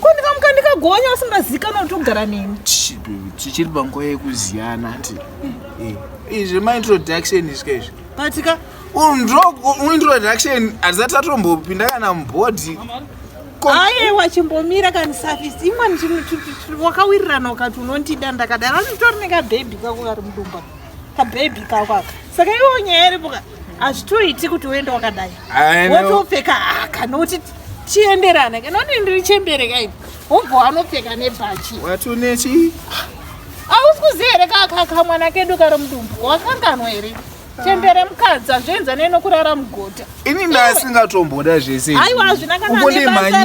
ko ndikamuka ndikagonya usingazikanwa kuti ugara neni tichiri panguva yekuziyana ti eh, izvi maintroduction izvika izvi patika introduction hatisati tatombopinda kana mubhodhi ayewa chimbomira kani safisi imwani wakawirirana ukati unontida ndakadara nditori nekabhebhi kako kari mudumba kabhebhi kako aka saka iwo nyaya iripoka hazvitoiti kuti uende wakadai wotopfeka haka nokuti chienderana kanoti ndiri chembere kaini wobva wanopfeka nebhachi watonechi hausi kuziva here kakakamwana kedu kari mudumbu wakanganwa here chembere mukadzi azvienza neno kurara mugota ini ndasingatomboda zvese aiwa hazvina kana nebasa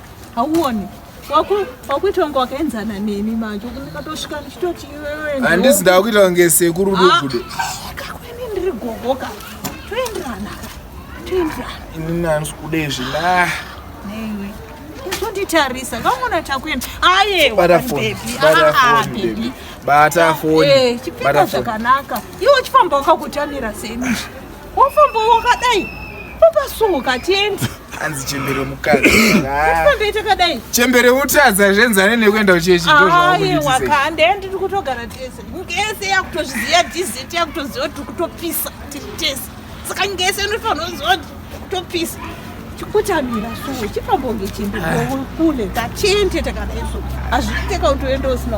hauone wakuita kunge wakaenzana neni manje ndikatosvika ndichitoti handisi ndakuita kunge sekuru dubudo ah, kakwene ndiri gogo ka toenderana toenderana inini handisi kuda izvi la neiwe izonditarisa kamona takuenda aye bata foni chipfeka zvakanaka iwe uchifamba wakakutamira seni wafamba wakadai ukasunguka tiendi hanzi chembere mukadzi ndoita kadai chembere utadza zvenzane nekuenda kuchechidokande ndiri kutogara tese nyika yese yakutozviziva dizit yakutoziva kuti kutopisa tiri tese saka nyika yese inofanira kuziva kuti kutopisa chikutamira so chipambonge chimbi kule tachende takadai so hazviiteka kuti uende usina